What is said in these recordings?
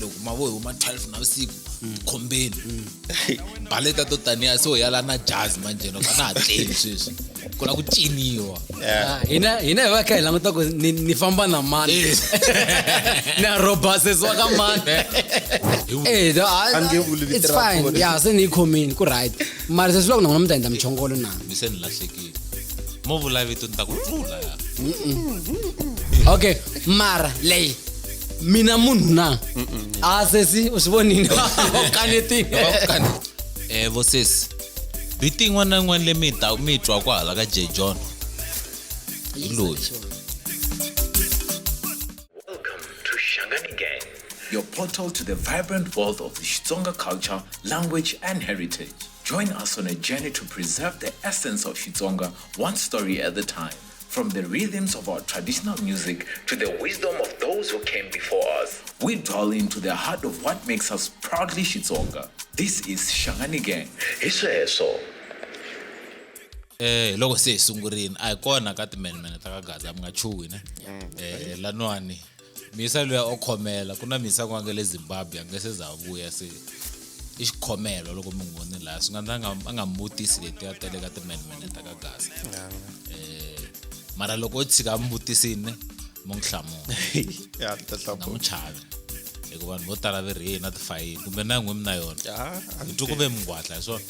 loko mavo hi huma 12 navusiku mm. khombeni mm. baleta to taniya so hi yala na jazz manjhe loko a na ha tleli sweswi ku la ku ciniwa ah, hina hina hi va kha hi languta ku ni famba na mani eh. ni a robasesiwa ka mani eh, it's fine ya se ni yi khomini ku right mara sesi loko na n'wina mi ta endla michongolo na mi se ni lahlekile mo vula vito ni ta ku pfula okay mara leyi mina munhu na a ah, sesi u swi vonile kanetini eh vo sesi vito yin'wana na yin'wana leyi mi ta mi twa ku hala ka j john hi loyi your portal to the vibrant world of the Xitsonga culture, language, and heritage. Join us on a journey to preserve the essence of Xitsonga, one story at a time. From the rhythms of our traditional music to the wisdom of those who came before us, we dwell into the heart of what makes us proudly Xitsonga. This is Shangani Gang. Hi sweswo. eh loko se hi sungurile a hi kona ka timenemene ta ka gaza mi nga chuhi ne eh laniwani mhisa luya o khomela ku na mhisa ku nga le zimbabwe a nge se za vuya se i xikhomelo loko mi n'wi voni laha swi nga ndza a nga mi vutisi leti a tele ka timenmene ta ka gasa um eh, mara loko o tshika a mi vutisini mo n'wi hlamula nga n'wi chavi hikuva vanhu vo tala ve ri yeyi na tifayini kumbe na n'wi mi na yona hi twi ku ve mingwatla hi swona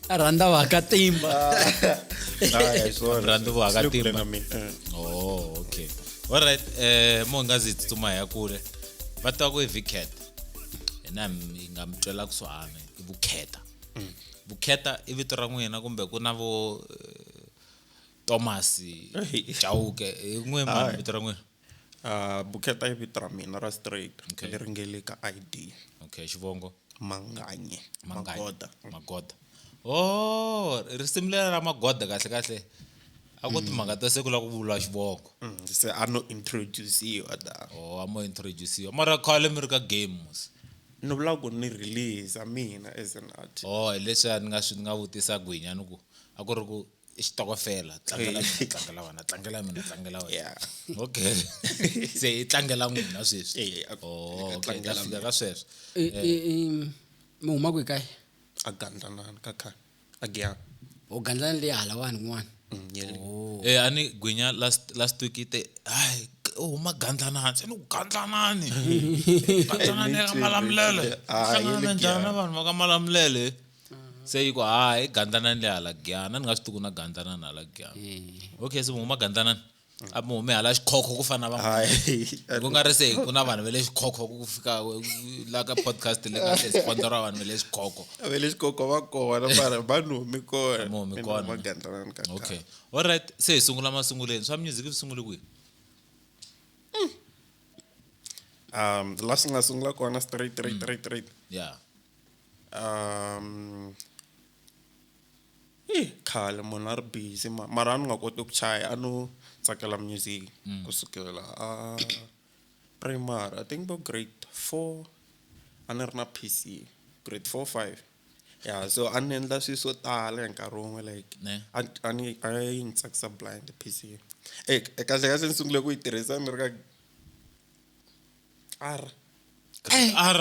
Aranda vakatimba. Aranda vakatimba. Oh, okay. All right, eh mongazi tsuma ya kule. Vatwa ku Vicat. Ena ngamtwela kusuhana vukheta. Mm. Vukheta i vito ra n'wina kumbe ku na vo eh, Thomas Chauke. N'we mani vito ra n'wina. Uh, Buketa i vito ra mina ra straight okay. leri nge le ka ID. Okay, xivongo. Manganye. Manganye. Magoda. Magoda. Oh, risimu leri ra Magoda kahle kahle. A ku timhaka mm. ta siku la ku vula xivongo. Mm, se a no introduciwa da. Oh, a mo introduciwa. Mara khale mi ri ka game mos. Ni vula ku ni release mina as an artist. Oh, leswi ni nga swi nga vutisa gwinya ni ku a ku ri ku i xitokofela tlangela mina tlangela wena tlangela mina tlangela wena Yeah. okay se i tlangela n'wina sweswi Eh, a- Oh, okay, hi ta tlangela fika ka sweswo I- i- i- mi huma kwi kae a gandlanana ka kha a giya u gandlana leyi halawani kun'wana Mm, yele. Eh a ni gwinya last last week yi te hayi k- u huma gandlanani se ni ku gandlanani gandlanani ya ka malamulele Ah, yi le hlanganana njhani na vanhu va ka malamulele se yi ku ha i gandlanani le hala giyana ni nga swi tiku na gandlanani hala giyana okay se mi huma gandlanani a mi hume hala xikhokho ku fana na van'wana ku nga ri se ku na vanhu va le xikhokho ku fika la ka podcast le ka se sponsor wa vanhu va le xikhokho va le xikhokho va kona mara va ni humi kona mi humi kona gandlanani ka okay all right se hi sungula masunguleni swa music swi sungule kwihi hmm. um la swi nga sungula kona straight straight straight straight yeah um i khale munhu a ri busy ma- mara a ni nga koti ku chaya a no tsakela music ku sukela a primary i think vo grade four a ni ri na P_C grade four five ya so a ni endla swi swo tala hi nkarhi wun'we like Ne. a ni- a ni a yi ni tsakisa blind P_C e kahle kahle ni sungule ku yi tirhisa ni ri ka R R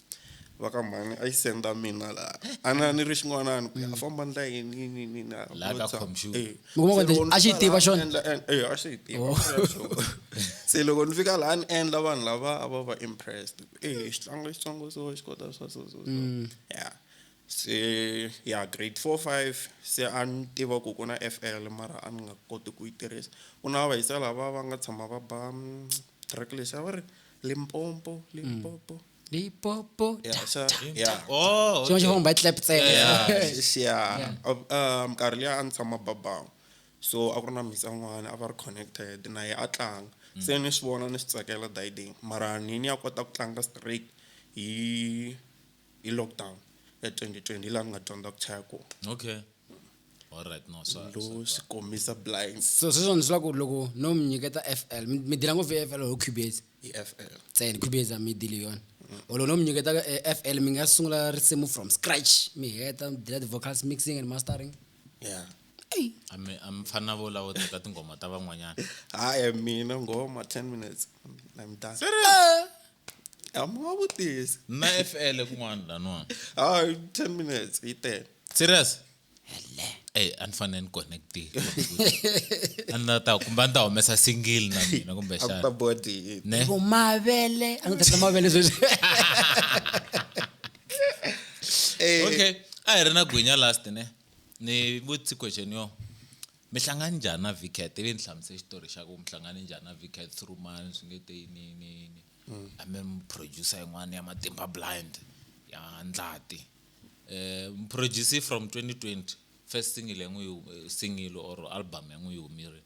va ka mhani a yi senda mina laha a na ni ri xin'wanani ku ya mm. famba ndla yini yini yini na eh. a xi yi tiva xona eh, a xi yi tiva oh. se loko ni fika laha ni endla vanhu lava a va va impressed eh xitlanga xitsongo so xi kota swa so so so mm. ya se ya grade four five se a ni tiva ku ku na f l mara a ni nga koti ku yi tirhisa ku na va yisa lava va nga tshama va ba mm, track lexi a va ri Limpopo, Limpopo. Limpopo. Yeah, ta, so, ta, yeah. Oh, okay. Xin'wana xi clap ntsena. Yeah. yeah. Um, nkarhi liya a ni tshama babawu. So a ku ri na mhisa n'wana a va ri connected na ye a tlanga. Mm. Se ni swi vona ni swi tsakela dayidini mara ni ni ya kota ku tlanga straight hi hi lockdown ya 2020 laha ni nga dyondza ku chaya kona okay all right no swa lo swi kombisa blinds so sweswo ni swi lava ku loko no mi nyiketa fl mi mi dila ngopfu hi fl or cubase hi fl ntsena cubase a mi dili hi yona or loko no mi nyiketa eh, fl mi nga sungula risimu from scratch mi heta mi dila ti-vocals mixing and mastering yeah eyi a mi a mi fana vo lavo teka tinghoma ta van'wanyana hayi mina ngoma 10 minutes i'm done amavutisi na fl kun'wana laniwani hayi 10 minutes yi tele serious ey a ni fanele ni connectile a ni la ta kumbe a ni ta humesa single na mina kumbe a ku ta xana body yini ne Ku mavele a ni ta tla mavele sweswi Eh, okay a hi ri na gwinya last ne ni vutisi question yo mi hlangani njhani na vicat ivi ni hlamusa xitori xa ku mi hlangane njhani na vicat through mani swi nge te yini yini yini mm. a mi mi producer yin'wana ya matimba blind ya ndlati um mi producer from 2020 first single ya n'wi eh, single or album ya n'wi yi humile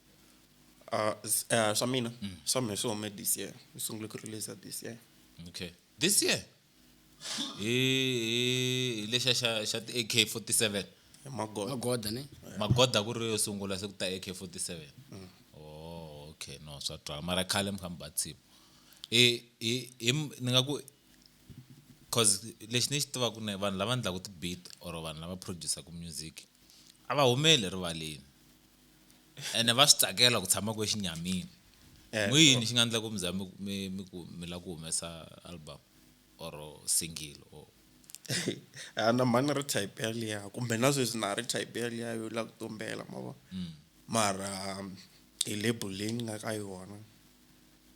uh, uh, swa mina mm. swa mina swi hume this year ni sungule ku release this year okay this year hi hi lexa xa xa ti AK47 hi magoda magoda ne magoda ku ri yo sungula se ku ta AK47 oh okay no swa twala mara khale mi kha mi ba tsimu i i i m- ni nga ku cause lexi ni xi tivaka ne vanhu lava endlaka ti-beat or vanhu lava producer-ku music a va humeli erivaleni ene va swi tsakela ku tshama ku exinyamini eh, n'wi yini xi nga endla ku mi za mi mi ku mi lava ku humesa album or single or a na mhani ri type yaliya kumbe na sweswi na ri type yaliya yo lava ku tumbela ma vona mm. mara um, hi label leyi ni nga ka yona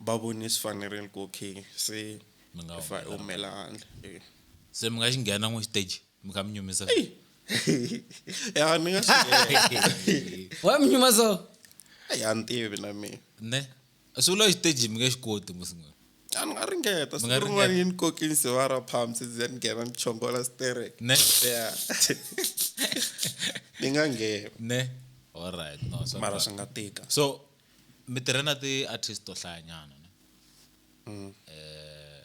va vone swi fanerile ku okay se mi nga humela handle eh. se mi nga xi nghena n'wi stage mukamunyumiza ya ni nga swi wamnyuma so ya ni tivi na mina ne swi vula xiteji mi nge xi koti musin'we a ni nga ringeta siku nga rin'wana ringeta. yi ni koki ni siva ra palms ndzi ya ni nghena ni chongola sterek ne ya ni nga nghena ne alright no so mara swi nga tika so mi tirhe na ti-artist to hlayanyana ne Mm. eh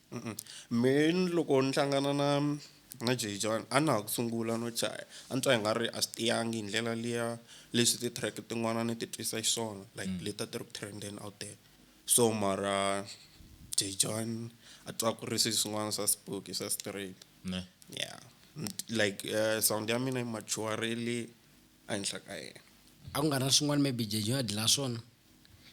Mehe ni loko ni hlangana na na Jay John a na ha ku sungula no chaya a ni twa i nga ri a swi tiyangi hi ndlela liya leswi ti-track tin'wana ni ti twisa xiswona like leti a ti ri ku trend-eni out there so mara Jay John a twa ku ri swi swin'wana swa Siphoki swa straight ne ya like sound ya mina yi mature-rile ehenhla ka yena. A ku nga ri na swin'wana maybe Jay John a dlaya swona.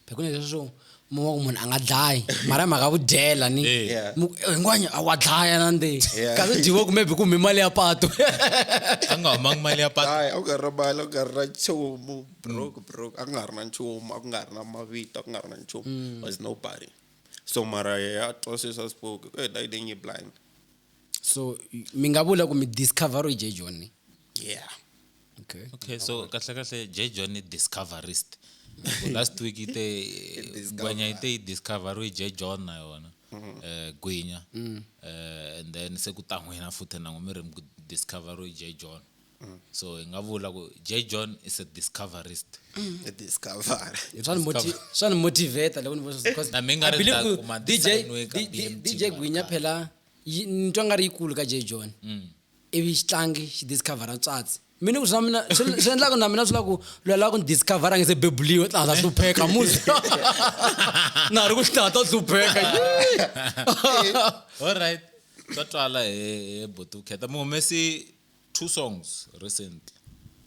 phekuna leswo mi va ku munhu a nga dlayi mara hi mhaka ya vudyela ni Eh. Yeah. mu- eh, hinkwanya a wa dlaya na nde Yeah. kasi dyiwe kumbe byi kume mali ya pato a nga humangi mali ya patu hayi a ku nga ri na mali a ku nga ri na nchumu broke broke a ku nga ri na nchumu a ku nga ri na mavito a ku nga ri na nchumu was nobody so mara ya twa sweswi a swi spoke e dayideng yi blind so mi nga vula ku mi discovery j john yeah okay okay so kahle kahle j john i discoverist last week ite gwenya ite i discovery j john na yona mm-hmm. eh gwenya mm. eh and then se ku ta n'wina futhi na n'wi mi ri discovery j john mm. so hi nga vula ku j john is a discoverist mm. swa ni motivata loko ni vdj gwinya phela ni twa nga ri yikulu ka j john mm. ivi xitlangi xi discovera tswatsi mina ku swi na mina swi endlaka na mina swi la ku loyi lava ku ni discovera nge se bebuliwe tla ta hlupheka muzi na ha ri ku tla ta hlupheka all right swa twala he botukheta muhumesi two songs recently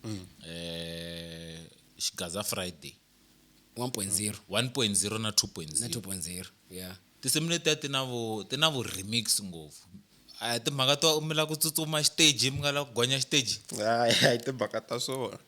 mm. eh Xigaza Friday 1.0 1.0 na 2.0 na 2.0 yeah tinsimu letiya ti na vu ti na vu remix ngopfu a timhaka to mi la ku tsutsuma xiteji mi nga la ku gonya xiteji a hi timhaka ta swona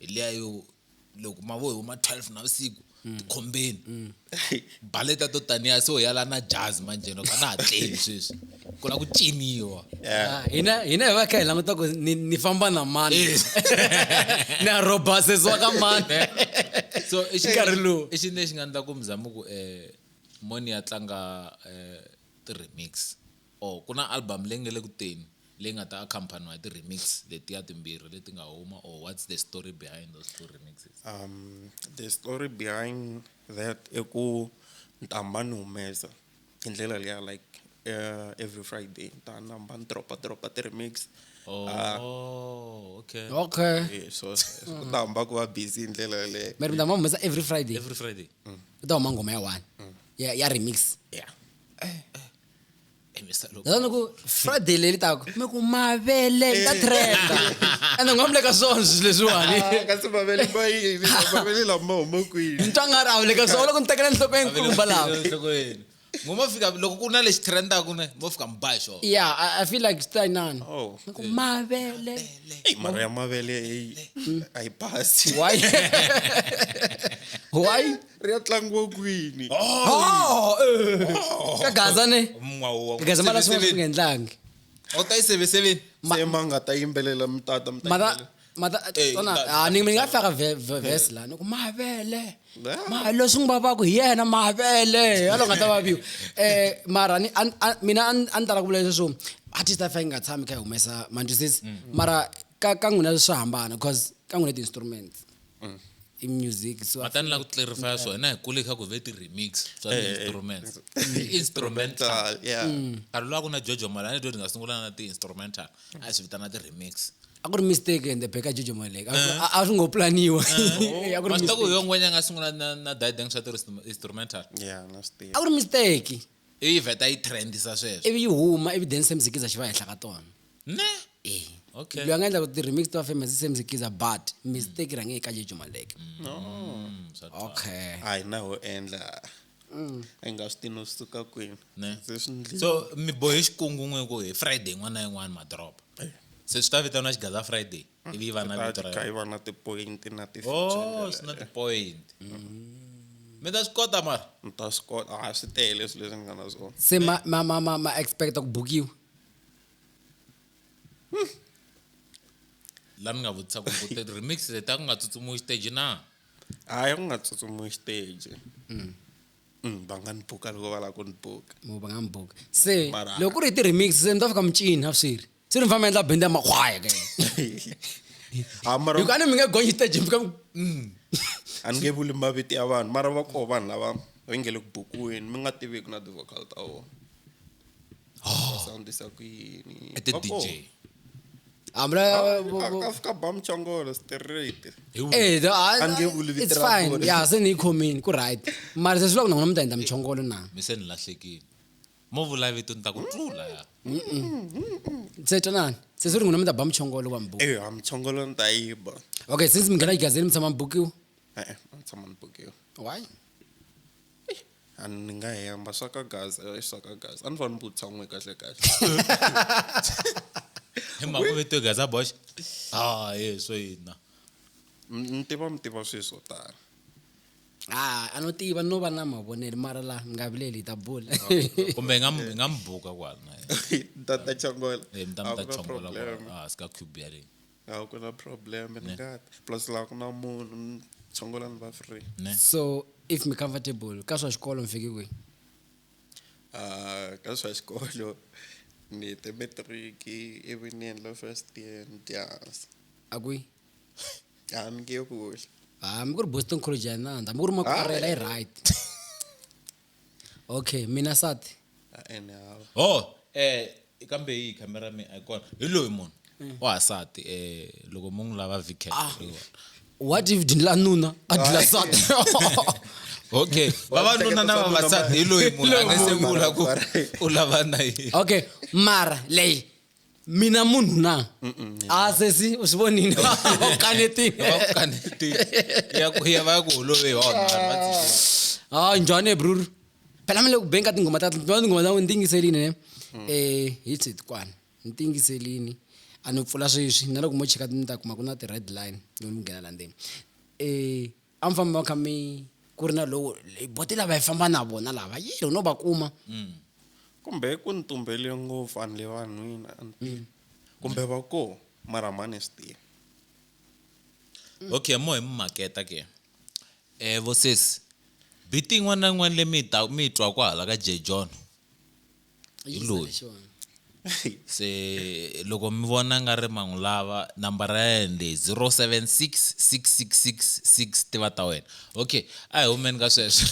hi liya yo loko ma vo huma 12 navusiku tikhombeni baleta to taniya se u yala na jazz manjeno ka na ha tleli sweswi ku la ku ciniwa Ah, hina hina hi va kha hi languta ku ni ni famba na mani ni ya robasesiwa ka mani so i xi- Nkarhi lowu. i xini lexi nga endla ku muzama ku um moni ya tlanga um ti-remix Oh, ku na album leyi nge le ku teni leyi nga ta accompaniwa hi ti-remix letiya timbirhi leti nga huma or what's the story behind those two remixes? Um, the story behind that i ku ntambha ni humesa hi ndlela liya like uh, every Friday ta namba ni dropa dropa ti remix oh, uh, oh okay okay yeah, so ku ta hamba ku va busy hi ndlela yaleyo mari ndamba humesa every Friday every Friday mm. ku ta huma ngoma ya one mm. ya, ya remix yeah eh. ni ku friday leyi litaka mi ku mavele ta eh. trenda ende nga vuleka swona swilo leswiwani ah, kasi mavele mavele lama huma kwini ni twa nga ri a vuleka swona loko ni tekela nhlokweni kumba lawa ngo mo fika loko ku na lexi trendaku ne mo fika mi ba hi xona ya i feel like it's time none oh. ni ku mavele mara ya mavele a yi basi why why ri ya tlangiwa kwini Oh, eh. ka gaza ne ka gaza mara swin'wana swi nga endlangi u ta yi seveseveni Ma- se ma nga ta yimbelela mi tata mi ta mata yimbelela. mata Eh, tona ta- ah, ni ni nga faka ve- ve- verse la ni ku mavele Ah. ma leswi n'wi vavaka hi yena mavele yalo nga ta vaviwa eh mara ni an- an- mina a ni- a ni tala ku vula leswo artist a fa yi nga tshami kha yi humesa manjusisi mara ka ka n'wina swa hambana because ka n'wina ti-instruments mm. i music so matani la ku clarify so na hi kule kha ku ve ti remix swa eh, eh, instruments eh. instrumental yeah mm. nkarhi lowa ku na jojo mali a ni twe ni nga sungula na ti instrumental a swi vitana ti remix a ku ri mistake ende beka jojo mali a swi ngo planiwa a ku ri mistake yo n'wenya nga sungula na na didang swa ti instrumental yeah na stage a ku ri mistake Ivi yi vheta yi trendisa sweswo. Ivi yi huma, ivi then Sam Zikiza xi va henhla ka tona. Ne? E. Okay. Loyi a nga endla ku ti-remix ti va famous i Sam Zikiza but mistake yi rhange eka Jejo Maleke. Mm, swa twala. Okay. a hi na ho endla hi nga swi tivi no swi suka kwini Ne? se swi ndlile So mi bohe xikungu n'we ku hi Friday yin'wana na yin'wana madoroba. Se swi ta vitaniwa Xigaza Friday. mm, ivi va na vito ra va na tipoint na ti oh swi na tipoint mm. mi ta swi kota mara mi ta swi kota a swi tele swilo leswi ni nga na swona se ma ma ma ma ma expecta ku bukiwa hmm. la ni nga vutisa ku ku remix leti a ku nga tsutsumuwi stage na hayi ku nga tsutsumuwi stage mm. Mm, va nga ni buka loko va lava ku ni buka va nga ni buka se loko ku ri hi ti-remix se ni ta fika mucini a swi ri se ni famba endla bende ya makhwaya ke ha mara hikuva a ni mi nge gonyi stage mi fika mi a ni nge vuli mavito ya vanhu mara va koho vanhu lava va nge le ku bukwini mi nga tiviki na ti-vocal ta vona va soundisa ku yini I did Va koho. DJ. hambi la Ah, a- ka fika ba muchongolo straight Eh, the- ah, A ni nge vuli vito it's ra fine vona. ya se ni yi khomini ku right mara se swi vula ku na n'wina mi ta endla muchongolo na mi se ni lahlekile mo vula vito ni ta ku tlula ya se twanani se swi ri n'wina mi ta ba muchongolo wa mbuku eyo hamuchongolo ni ta yi ba okay since mi nghena igazini mi tshama mi bukiwa e-e a ni tshama ni bukiwa why a ni nga hemba swa ka gaza i swa ka gaza a ni fanele ni vutisa n'we kahle kahle hi mhaka ku vito gaza boxe a ye swo yina M- ni tiva mi tiva swilo swo tala ah a no tiva no va na mavonelo mara la mi nga vileli hi ta bula kumbe hi nga mu- hi nga mu buka kwala na yena. tata chongola Eh, mi ta mi ta chongola kwala ah, sika cube ya le a ku na problem ni nga ta plus laha ku na munhu ni chongola ni va free ne so if mi comfortable ka swa xikolo mi fike kwihi Ah, ka swa xikolo ni te matric ivi ni endla first year ni tihansi a kwihi Ah, mi nge yo kule ha mi ku ri boston college ya nanda mi ku ri makwarela i right okay mina sati Ah, ene hawa ho eh kambe yi khamera mi a yi kona hi loyi munhu wansati eh loko mu n'wi lava vk what if dindla nuna a dila sati okay vavanuna na vavasati hi loyi munhu a nga se vula ku u lava na yini okay mara leyi mina munhu na a sesi u swi vonile u kanetile va ku holovehi wa hayi njhani ebruru phela mi le ku beni ka tinghoma ta tinghoma ta n'wi ni tingiselini ne um hi tshitwana ni tingiselini a ni pfula sweswi na loko mo cheka ni ta kuma ku na ti-red line yo ni nghena la ndzeni um A mi famba mi kha mi ku ri na lowo hi bote lava hi famba na vona lava yi ri no va kuma mm. kumbe ku ni tumbele ngopfu a ni le vanhwini a ni mm. kumbe va ko mara mhani hi swi tivi okay mo hi mi maketa ke eh vosesi biti yin'wana na yin'wana leyi mi yi ta mi yi twaku hala ka J John hi loyi se loko mi vona nga ri mangu lava nambara ya yena leyi 076 6666 tiva ta wena okay a hi humeni ka sweswo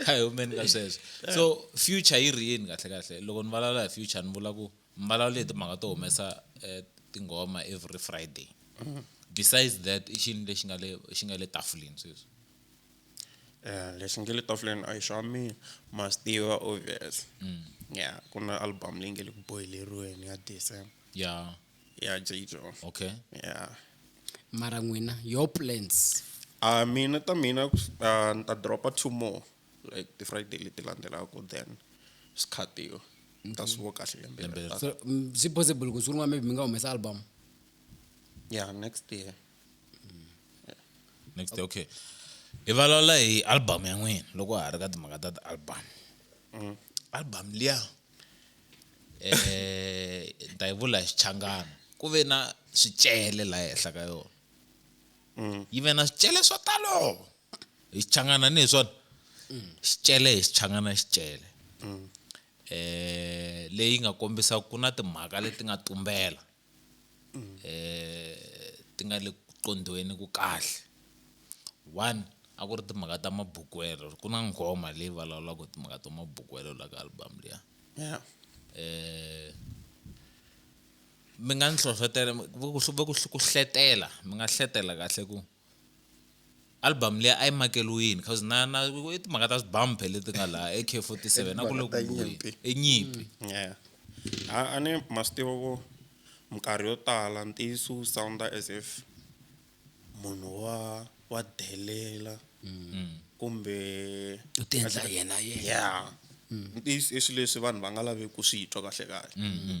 a hi humeni ka sweswo so future yi ri yini kahle kahle loko ni vulavula hi future ni vula ku mi vulavule hi timhaka to humesa eh, tinghoma every friday besides that i xini lexi nga le xi nga le tafuleni sweswi lexi nge le tafuleni a yi xa mina must tiva obvious mm. ya ku na album leyi nge le ku boyileriweni ya december ya ya jjo okay ya mara n'wina your plans a mina ta mina ni ta dropa two more like ti-friday leti landzelaka then swi khatiwa ni ta swi vo kahle lembe swi possible ku swi ri n'wa maybe mi nga humesa album ya next year next day okay hi vulavula hi album ya n'wina loko ha ri ka timhaka ta ti-album mm. album liya eh ni ta yi vula hi xichangana ku ve na swicele laha henhla ka yona mm. yi ve na swicele swo talo hi xichangana ni hi swona mm. xicele hi xichangana xicele eh leyi nga kombisa ku na timhaka leti nga tumbela ti nga le ku qondhiweni ku kahle. One a ku ri timhaka ta mabukwelo ku na nghoma leyi vulavulaka hi timhaka ta mabukwelo laha ka album liya mi nga ni hlohlotela ku hletela mi nga hletela kahle ku. Album leyi a yi makeliwini cause na na i timhaka ta swibumper leti nga laha AK 47 na ku le ku nyimpi. i nyimpi mm. yeah a a ni ma swi tiva ku minkarhi yo tala ntiyiso wu sounda as if munhu wa wa delela mm. kumbe u ti endla yena yena yeah mm. ntiyiso i swilo leswi vanhu va nga laveki ku swi twa kahle kahle mm,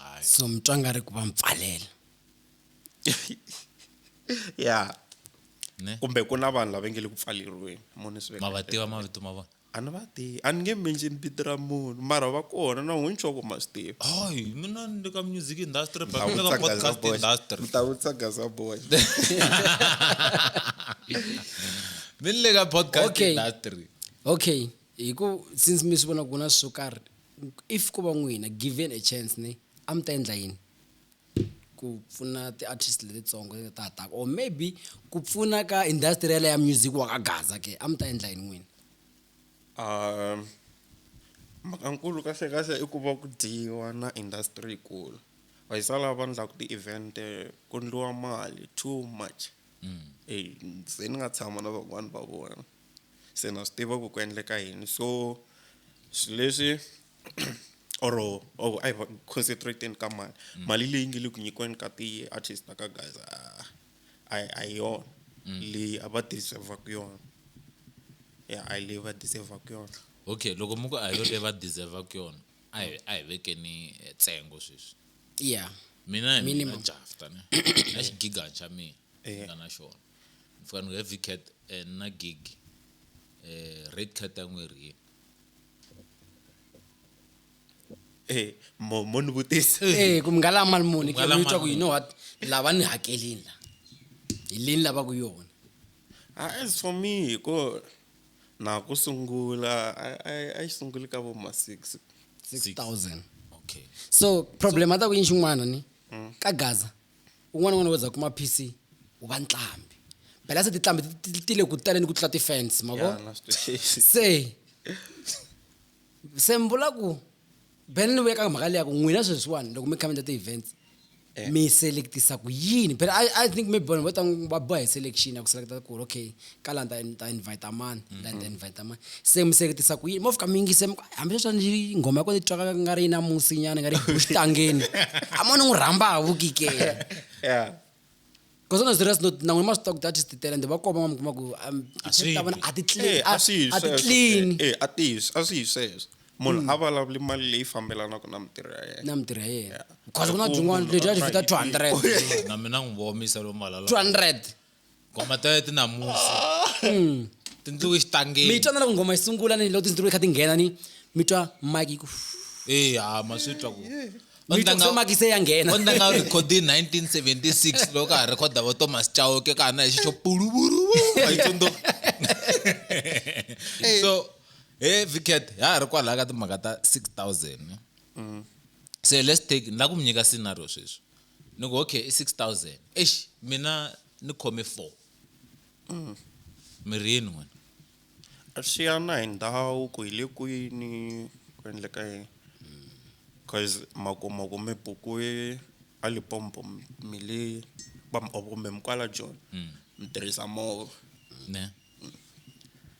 hayi so mi twa nga ri ku va mi pfalela ya ne kumbe ku na vanhu lava nge le ku pfaleriweni mo ni swi veka ma va tiva mavito ma vona a ni va tivi a ni nge mention vito ra munhu mara va kona na n'wini swa ku ma swi tiva hayi mina ni le ka music industry but ni le ka podcast industry ta vutisa gaza boy mi ni le ka podcast Okay. industry okay hi ku since mi swi vona ku na swo karhi if ko va n'wina given a chance ni a mi ta endla yini ku pfuna ti-artist letitsongo leti ta ha taka or maybe ku pfuna ka industry yaleyo ya music wa ka gaza ke a mi ta endla yini n'wina um mhakankulu kahle kahle i ku va ku dyiwa na industry yikulu va yi sala va ndlaku ti-event ku ndliwa mali too much mm. e se ni nga tshama na van'wani va vona se na swi tiva ku ku endleka yini so swi leswi or or a hi concentrate-eni ka mali mm. mali leyi nge le ku nyikiweni ka ti-artist na ka guys a a hi yona mm. leyi a va deservaku yona ya a hi leyi va deservaku yona okay loko mi ku a hi yo leyi va deservaku yona a hi a hi vekeni eh, ntsengo sweswi ya mina hi mina jafta ne na xigigani xa mina nga na xona mi fika ni ku heavy cat and na gig eh red cat a n'wi ri yini Eh, mo mo ni vutisa Eh, ku mi nga lava mali muni ke Nga lava mi twa ku mali you know what lava ni hakelini la hi leyi ni lavaka yona Ah, as for me hiko na ku sungula a- a- a yi sunguli ka vo ma six 6000 okay so problem a ta ku yini xin'wana ni ka gaza un'wana n'wana wo za kuma PC u va ntlambi phela se titlambi ti- ti- ti tile ku taleni ku tlula ti-fans ma vo Yana, swi- se se mi vula ku phela ni vuya ka mhaka leya ku n'wina sweswiwani loko mi khamenda ti-events Eh. mi selectisa ku yini phela I, i think maybe vanhu vo ta va boha hi selection ya ku selekta ku ri okay ka la ni ta ni ta invite mani la ni ta invite mani se mi seketisa ku yini mo fika mi yingise mi ku, hambi leswi a ni nghoma ya kona yi twaka nga ri yi na musinyana nga ri yi buxitangeni a mo ni n'wi rhamba ha vukikela yeah Because on a serious note, na n'wina ma swi tiva ku data ti tele ende va koma ma mi kuma ku um, A swi ta vona a ti clean, Eh, a swi yi a ti sweswo. clean Mm. Eh, a ti yi- a swi yi sweswo munhu a vulavuli mali leyi fambelanaka na mintirho ya yena na mintirho ya yena. Yeah. Because ku na Ku byin'wana munhu leti a ti a fita try 200. na mina n'wi vomisa lomu malala 200. ngoma ta ti namusi mm. tindluki xitangeni mi twa na loko ngoma yi sungula ni loko tindluki kha ti nghena ni mi twa mike yi ku e ha ma swi twa ku makise ya nghena o ndanga rekhodi 1976 loko ka ha rhekhoda vo thomas chauke ka ha na hi xixo puluvuru yi tsundzuka so he vicat ha ha ri kwalaha ka timhaka ta 6000 mm. se let's take ni la ku mi nyika scenario sweswi Ni ku okay i 6000. Eish mina ni khome 4. Mm. Mi ri yini n'wina? Swi ya na hi ndhawu ku hi le kwini ku endleka yini. Cause ma kuma ku mi bukiwe a Limpopo mi le kumbe mi kwala Joni mi tirhisa movha. Ne.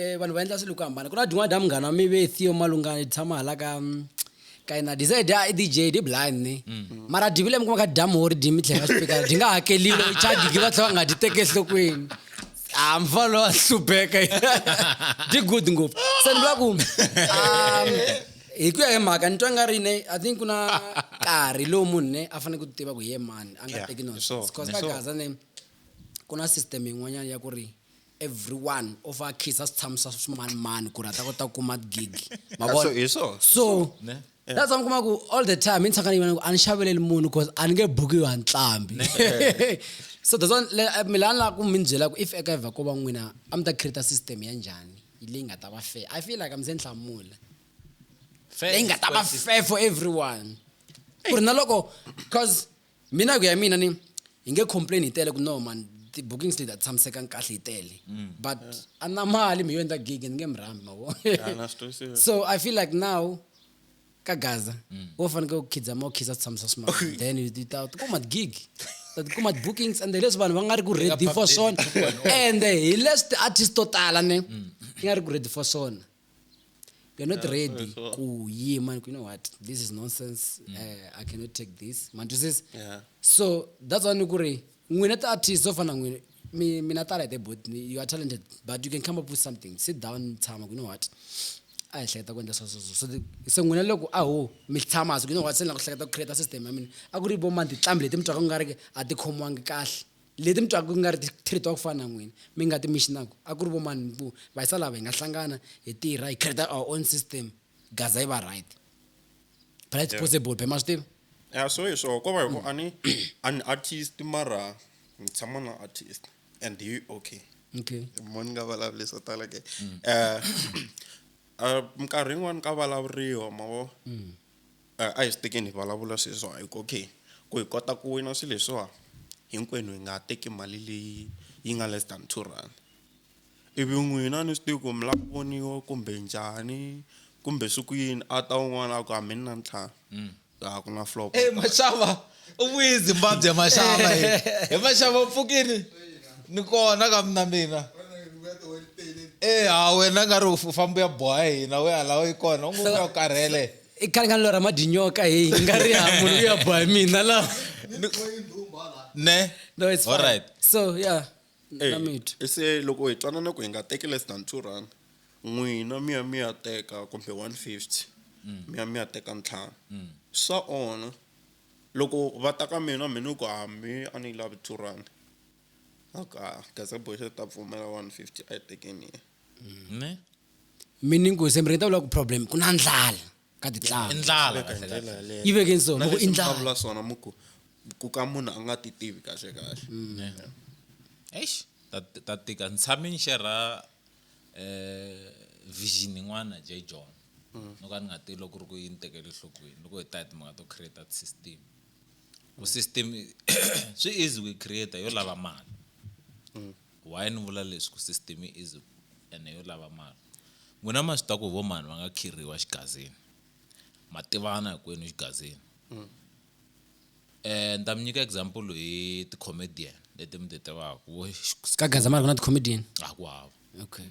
eh, vanhu va endla swilo ku hambana ku na din'wana dya munghana wa mi ve theo malungana hi tshama hala ka mm, ka yena dized a i dj di blind ni mm. mara divile mi kuma ka dya mohori di mi tlhela xipikara di nga hakeliwa i chadigi va tlhela va nga di teke enhlokweni a mfa lowa hlupheka di good ngopfu se ni vula ku um, hi ku ya hi mhaka ni twa nga ri ne i think ku na nkarhi lowu munhu ne a fanele ku tiva ku hi ye mani a nga teki nonsense bcause ka gaza ne ku na system yin'wanyana ya ku ri every one u fa a khisa switshamo swa swimanimani ku ri a ta kota ku kuma gigi mavona hi swo so that's why mi kuma ku all the time i ntsakani yona ku a ni xaveleli munhu because a ni nge bukiwi ha ntlambi so that's why eh, mi la ni lava ku mi byela ku if eka evha ko va n'wina a mi ta create system ya njhani leyi nga ta va fair i feel like mi se ni hlamula leyi nga ta va fair for everyone ku ri na loko because mina ku ya mina ni hi nge complain hi tele ku no man ti-bookings leti a ti tshamisekanga kahle hi tele mm. but a na mali mi yo endla gig ni nge mi rhambi mavo so i feel like now ka gaza mm. wo fanekele ku khidza ma u khisa swi tshamisa swimali then ti ta ti kuma gig ta ti kuma bookings and leswi vanhu va nga ri ku ready for swona and hi leswi ti-artist to tala ne mm. ti nga ri ku ready for swona you're not yeah, ready so. kuyima you know what this is nonsense mm. uh, i cannot take this mandizis yeah. so that's why nikuri n'wina ti-artist zo fana n'wina mina tala the both you are talented but you can come up with something sit down tshama you know what a hi hleketa ku endla swesweswo so se n'wina loko a ho mi tshama so you know what se ni la ku hleketa ku create system ya mina a ku ri vo manditlambi leti mi twaka ku nga ri a ti khomiwangi kahle leti mi twaka ku nga ri ti treat-wa ku fana na n'wina mi nga ti mixinaku a ku ri vo mani ku va yisa lava hi nga hlangana hi tirha hi create our own system gaza yi va right but it's possible be ma swi tiva ya so hi swona ko va hi ku a ni a ni artist mara ni tshama na artist and hi okay okay mo ni nga vulavuli swo tala ke um minkarhi yin'wani ka vulavuriwa ma vo A a hi swi tekeni hi vulavula sweswiwa hi ku okay ku hi kota ku wina swilo leswiwa hinkwenu hi nga ha teki mali leyi yi nga less than two rand ivi n'wina a ni swi tivi ku mi lava ku voniwa kumbe njhani kumbe swi ku yini a ta un'wana a ku a mi ni na ntlhanu a ku na flop e maxava u vuyi zimbabwe maxava he maxava u pfukini ni kona ka mina mina e ha wena nga ri u famba u ya boha hina we ala u yi kona u ngo u ya u karhele i ka ri nga lora madinyoka hi nga ri ha munhu luya boha mina la ne no it's fine. Alright. so yeah Eh, na mithu e se loko hi twanana ku hi nga teki less than two rand n'wina mi ya mi ya teka kumbe one fifty mi ya mi ya teka ntlhanu swa onha loko va ta ka mina mi ni ku hambi a ni yi lavi two rand okay ah, gaza boy se ta pfumela 150 a yi tekeni ne mi ni nghozi mi rheta vula ku problem ku na ndlala ka titlangu ndlala Veka hi kahle ndlela kahle yaleyo. yi veke nso Na muku leswi i mi ndlala vulavula swona muku ku ka munhu a nga ti tivi kahle kahle eish ta ta tika ni tshame ni xerha eh vision yin'wana J John no ka ni nga tivi loko ku ri ku yi ni tekele enhlokweni loko hi ta hi timhaka to create system ku system swi easy ku create yo lava mali mm. why ni vula leswi ku system yi easy ene yo lava mali n'wina ma swi ta ku vo mani va nga khirhiwa xigazini ma tivana hinkwenu xigazini mm. eh ni ta mi nyika example hi ti-comedian leti mi ti tivaka ka gazamani ku na ti-comedian a ku hava okay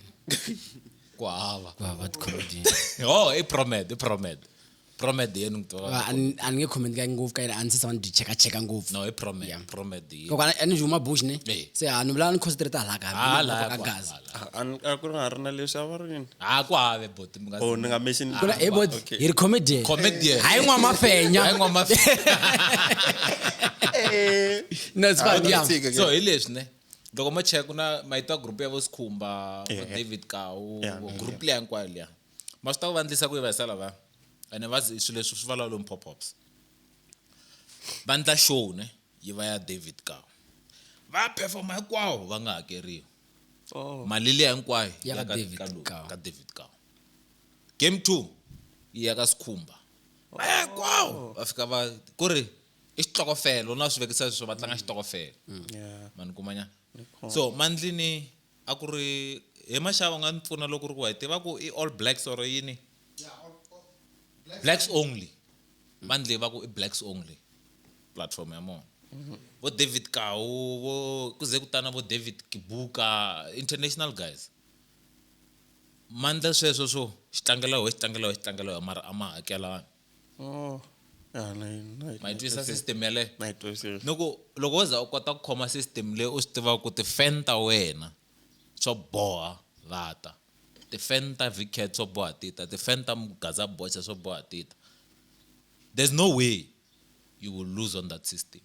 ku hava ku hava tikhomedi oh i promed i promed promed yenu ngitola a ni a ni nge comment ka ngopfu ka yena a ni se tshama ni byi cheka cheka ngopfu no i promed Yeah. promed yenu loko a ni huma bush ne Eh. se a ni vulaka ni concentrate hala ka Ah, la, ka kwa- gaza la. Ah, an- a ku ri nga ri na leswi a va ri yini ah ku hava bot mi nga oh ni nga mention kuna hey boy Okay. hi ri comedian comedian hayi n'wa mafenya hayi ngoma Eh, no it's fine yeah so hi leswi ne loko mo cheka ku na mayito ya group ya vo sikhumba vo david kawu group leya hinkwayo liya ma swi ta ku vandlisa ku yi va hisa lava ene va swilo leswi swi vulavula lomu pop-ups va ndla show ne yi va ya david kawu va performa hinkwawo va nga hakeriwi oh. mali leya hinkwayo ya ka david kawu ka david kawu game two yi ya ka sikhumba oh. hinkwawo va fika va ku ri i xitokofela u na swi vekisa leswo va tlanga xitokofela yeah mani kumanyana so mandlini a ku ri he maxava u nga ni pfuna loko ku ri ku wa yi tiva ku i all blacks or yini blacks only mandlini va ku i blacks only platform ya mona vo david kawu vo ku ze ku tana vo david kibuka international guys mandla sweswo swo xi tlangela wehe xi tlangela wehe xi tlangela wehe mara a ma hakelani oh ya na na ma yi twisisa system yaleyo na yi twisisa ni ku loko wo za u kota ku khoma system leyi u swi tivaka ku ti-fan ta wena swo boha va ta ti-fan ta vicat swo boha ti ta ti-fan ta mugaza bocha swo boha ti ta there's no way you will lose on that system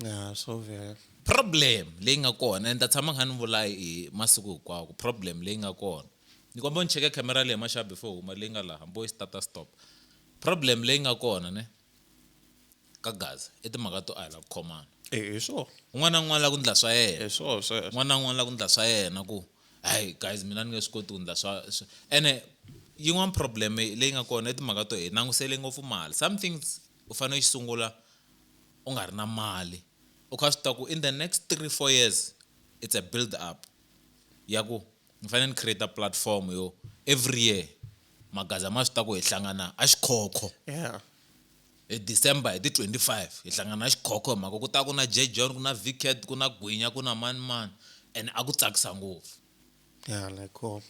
Yeah, so very. problem leyi nga kona and ta tshama kha ni vula hi masiku hinkwawo ku problem leyi nga kona ni kombela ni cheke camera leyi maxaha before huma leyi nga laha mbo yi stata stop problem leyi nga kona ne ka gaza i timhaka to a hi la ku khomana eh, hi swona un'wana na un'wana la ku ndla swa yena hi swona sweswo n'wana na un'wana la ku ndla swa yena ku hayi guys mina ni nge swi koti ku ndla swa swa- ene yin'wana problem leyi nga kona i timhaka to hi langusele ngopfu mali something u fane u xi sungula u nga ri na mali u kha u swi tiva ku in the next three four years it's a build up ya ku ni fane ni create platform yo every year magaza ma swi tiva ku hi hlangana a xikhokho yeah hi December hi ti twenty five hi hlangana a xikhokho hi mhaka ku ta ku na J John ku na Vicat ku na Gwinya ku na mani mani and a ku tsakisa ngopfu ya la khoma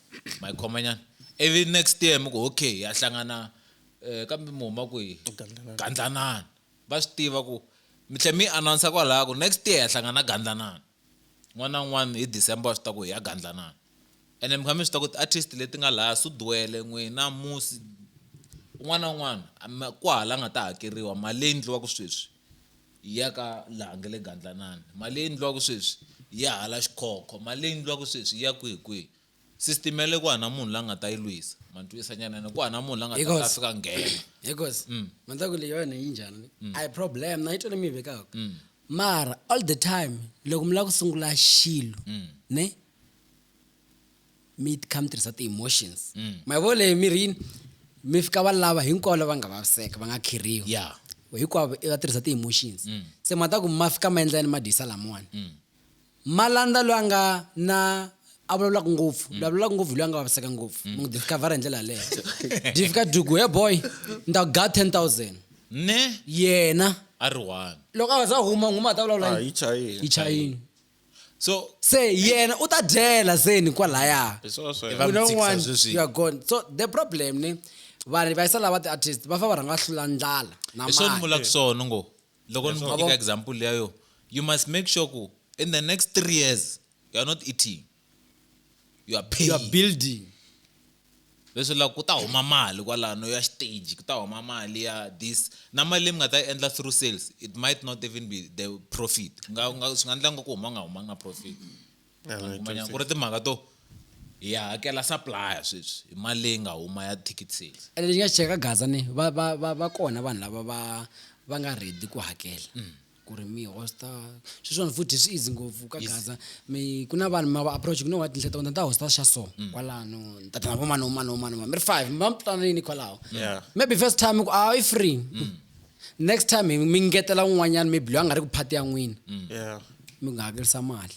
ma yi khoma nyana ivi next year mi ku okay ya hlangana um kambe mi huma kwihi gandlanana va swi tiva ku mi tlhe mi yi announce kwalaya ku next year ya hlangana gandlanana n'wana na un'wana hi december wa swi ta ku hi ya gandlanana ene mi kha mi swi ta ku ti-artist leti nga laya sudwele n'wina musi un'wana na un'wana ku hala nga ta hakeriwa mali leyi endliwaka sweswi ya ka laha nge le gandlanani mali leyi ndliwaka sweswi ya hala xikhokho mali leyi ndliwaka sweswi ya kwihi kwihi system ya le ku hana munhu la nga ta yi lwisa ma ntwisa nyanene ku hana munhu la nga ta kasi ka nghena hikosi mm. mandzaka leyi yona yi njhani mm. a yi problem na yi tole mi yi vekaka mm. mara all the time loko mi lava ku sungula xilo ne mi kha mi tirhisa ti-emotions mm. ma yi vo leyi mirini mi fika va lava hinkwavo lava nga vaviseka va nga khirhiwa yeah. hinkwavo va tirhisa ti-emotions mm. se ma ta ku ma fika ma endla yini ma dyisa lamawani mm. ma landza loyi a nga na a vulavulaka ngopfu mm. vulavulaka ngopfu hi loyi a nga vaviseka ngopfu mm. munhu discovera hi ndlela yaleyo di fika duku he boy ni ta ku ga ten thousand ne yena a ri one loko a za huma nghuma a ta vulavula ah, yi chayini so se yena u ta dyela zeni kwalaya Hi swona swa yena. Hi va you know mutshikisa one sweswi. you are gone so the problem ni vanhu va yisa lava ti-artist va fa va rhanga hlula ndlala na hi swona ni mali vulaka swona ngo loko ni Yabo. nyika example leya yo you must make sure ku in the next three years you are not eating you are you are paying building leswi la ku ta huma mali kwalano ya stage ku ta huma mali ya this na mali leyi mi nga ta yi endla through sales it might not even be the profit swi nga endla nga ku huma nga huma nga profit kumanyana ku ri timhaka to hi ya hakela supplier sweswi hi mali leyi nga huma ya ticket sales ene lexi nga xi cheka gaza ni va va va va kona vanhu lava va va nga ready ku hakela mm. ku ri mi hosta swi swona futhi swi easy ngopfu ka gaza mi ku na vanhu ma va approach ku no wa tinhla ta wena ta hosta xa so mm. kwalano ni ta tana vo mani mani mani mani mi ri five mi va mi twananini kwalaho maybe first time ku a ah, i free mm. next time mi ngetela un'wanyana maybe loyi a nga ri ku phati ya n'wina mm. mi nga hakerisa mali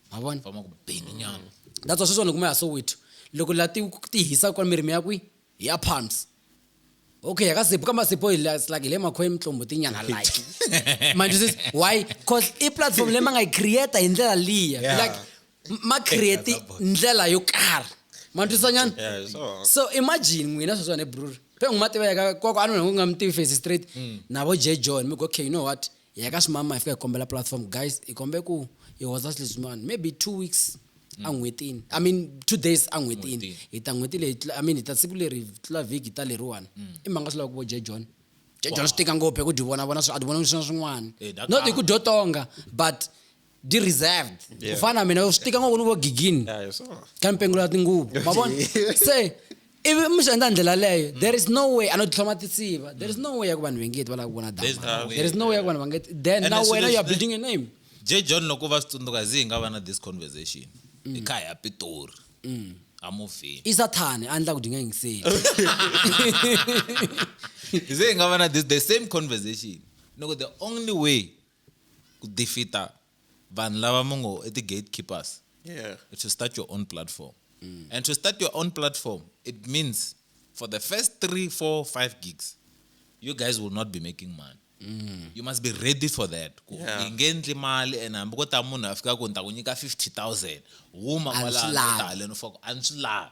ma vona va ma ku beni nyana that's why sweswiwani kuma ya soweto loko la ti ti hisa kwa mirimi ya kwi hi ya palms okay yaka sipo kamba sipo hi la- like hi le makhoyi mitlombo tinyana like manje sis why cause i platform leyi ma nga yi creata hi ndlela liya Yeah. like m- ma create ndlela yo karhi ma twisisa nyana Yeah, so- so imagine n'wina sweswiwani brur pe n'wi ma tiva yaka kwako a nona ku nga mi tivi face straight navo j john mi go okay you know what hi ya ka ximama hi fika hi kombela platform guys hi kombe ku hi hoza xilo xin'wana maybe two weeks a n'hwetini i mean two days a n'hwetini hi ta n'hweti leyi i mean hi ta siku leri tlula vhiki ta leriwani i mhanga swi lava ku vo je john je john swi tika ngopfu hi ku dyi vona vona swi a dyi vona swi swin'wana eh, not hi ku dyo tonga but di reserved ku fana na mina swi tika ngopfu ni vo gigini Yeah, you saw. ka mpengulo ya tinguvu mavona se ivi mi swi endla ndlela leyo there is no way ano titlhoma tisiva there is no way ya ku vanhu vengeti va lava ku vona There's dama no way. there is no way ya ku vanhu vangeti then And na as soon wena as you are they- building a name j john loko va swi tsundzuka zi hi nga va na this conversation i kha hi ya pitori amuvheni i sathane a ndla ku dinga yingiseni zi hi nga va na this the same conversation ni ku the only way ku defeater vanhu lava mi ngo i ti-gatekeepers Yeah. to start your own platform and to start your own platform it means for the first three four five gigs you guys will not be making money you must be ready for that ku Yeah. hi nge ndli mali and hambi ko ta munhu a fika ku ni ta ku nyika 50000 huma A ni swi kwalano lavi. taleni foko a ni swi lavi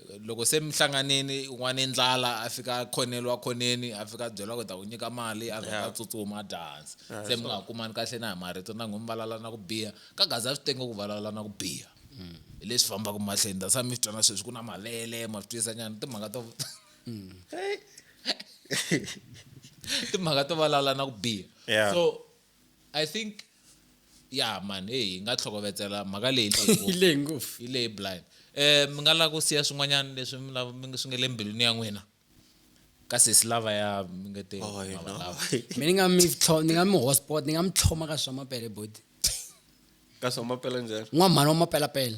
loko se mi hlanganini n'wana ndlala a fika a khoneli wa khoneni a fika a byela ku ta ku nyika mali a vheta a tsutsuma a dya hansi se mi nga ha kumani kahle na hi marito na n'humi valala na ku biha ka gaza swi tenge ku valala na ku biha mm. hi leswi fambaka mahlweni that's why mi swi twana sweswi ku na mavele ma swi twisa nyana timhaka to mm. timhaka to valala na ku biha so i think ya man hey hi nga tlhokovetsela mhaka leyi yi leyi ngopfu yi leyi blind eh mi nga lava ku siya swin'wanyana leswi mi lava mi swi nga le mbilwini ya n'wina ka sesi lava ya mi nga te oh, mi ni nga mi ni nga mi hotspot ni nga mi tlhoma ka swa mapele bodi ka swa mapele njhani n'wamhani wa mapelapele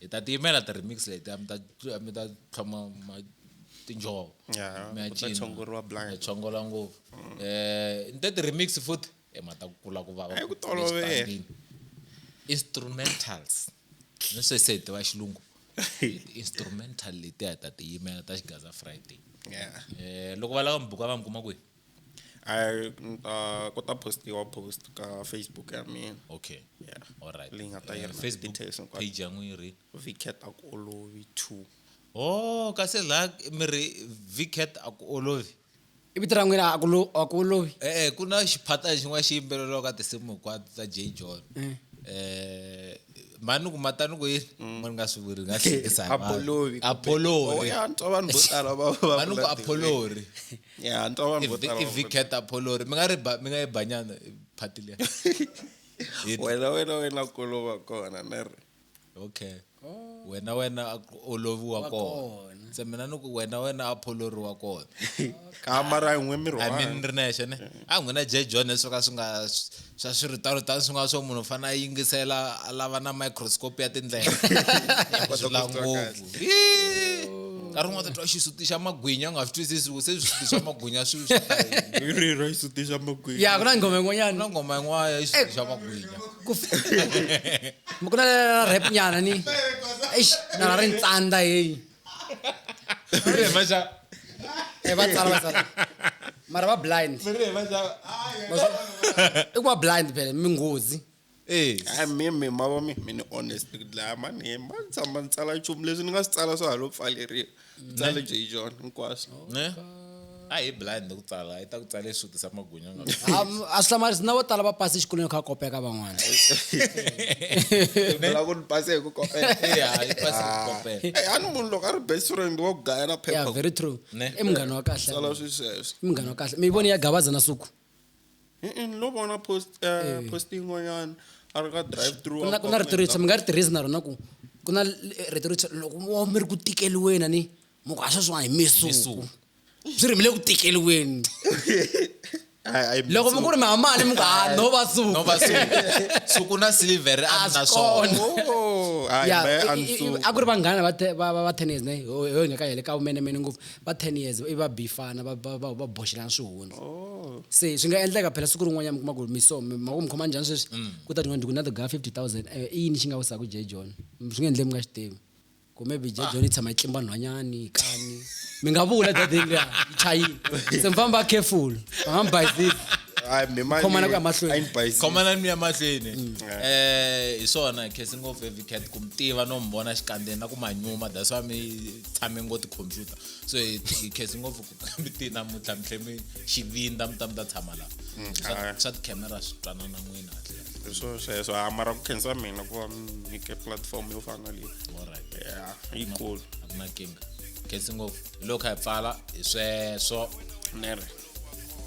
hi ta tiyimela ti remix leti a mi ta a mi ta tlhoma tinjhovo mi ya cina chongola ngopfu um ni te ti-remix futhi emata ku kula ku vava ku tolovela instrumentals ni swe se hi tiva xilungu instrumental letiya hi ta tiyimela ta xigaza friday um loko va lava mi buka va mi kuma kwihi I mm, uh, ku ta postiwa post ka facebook ya mina okay yeah alright leyi nga ta Eh, yena facebook details hinkwato. page ya n'wiri vicat a ku olovi two oh kasi laha mi ri vcat a ku olovi i vito ra n'wina a ku lo- a ku olovi e-e ku na xiphatana xin'wana xi yimbeleriwa ka tinsimu hinkwato ta j john um mani ku matani ku yini mo ni nga swi vuri nga hlekisa hi vanhu. apolovi apolori Oh, ya, ni twa vanhu vo tala va- va mani ku vula apolori ya ntwa vanhu vo tala va- ivicat apolori mi nga ri ba- mi nga yi banyana phati liya It- wena wena wena kolova kona ne ri okay wena wena a ku oloviwa Wa kona kona. se mina ni ku wena wena apolori wa kona ka mara yin'we miri i wa mean ri nexe ne a n'wina j john leswi swo ka swi nga swa swiritano tani swi nga swo munhu u fanele a yingisela a lava na microscope ya tindlela swi la ngopfu nkarhi un'wana ta twa xisuti xa magwinya u nga swi twisisi ku se swisuti swa magwinya swi rira xisuti xa magwinya ya ku na nghoma yin'wanyana na ngoma yin'wana ya xisuti xa magwinya ku na rap nyana ni eish na ri ntsanda heyi Rirema xa e va tsala va tsala mara va blind rirema xa i ku va blind phela minghozi eh hayi mi mi ma vo mi mi ni honest ku dlaya mani hi ma ni tshama ni tsala nchumu leswi ni nga swi tsala swa ha lo pfaleriwa tsala jay john hinkwaswo ne a hi blind ku tsala yi ta ku tsala leswi tisa magwinya nga a swi hlamarisi na vo tala va pasi exikolweni kha kopeka van'wana la ku ni pase hi ku kopela a ni munhu loko a ri best friend wa ku gaya na phepha very true i munghana wa kahle sala swi sweswo i munghana wa kahle mi yi voni ya gabaza na suku ni lo vona post eh, post yin'wanyana a ri ka drive through ku na rito ritshwa mi nga ri tirhisi na rona ku ku na rito ritshwa loko mi ri ku tikeliweni ni muku a sweswiwa hi misuku swi ri mi le ku tikeliweni loko mi ku ri mi hamani mi ku ha ah, no va suku na silver a ni na swona oh, a ku ri vanghana va ten years ne ho hi nga ka yele ka vumenemene ngopfu va ten years i va bifana va boxelana swihundzi oh. se swi nga endleka phela siku rin'wanyana mi kuma ku miso maku mi khoma njhani sweswi mm. ku ta tin'wana ndiku na tiga fifty thousand eh, i yini xi nga wisaka jay john swi nga endleki mi nga xi tivi kumbe byi ah. dyondzisa matlimba nhwanyani kani mi nga vula dadeni liya yi chayile se mi famba va careful va nga mi bayizisi khomana ku ya mahlwenikhomana mi ya mahlweni um mm. eh, hi swona khesi ngopfu evicat ku mi tiva no mi vona xikandzeni na ku manyuma that's why mi tshame ngo tikhompyuta so hi khesi ngopfu mi ti namuntlha mi tlhe mi xivindza mi ta mi ta tshama laha mm, swa swa tikhamera swi twanana n'wina kahle swo sweswo a mara ku khensa mina ku va mi nyike platform yo fana leyi alright ya yi cool a ku na kinga khensi ngopfu hi loko hi pfala hi sweswo nere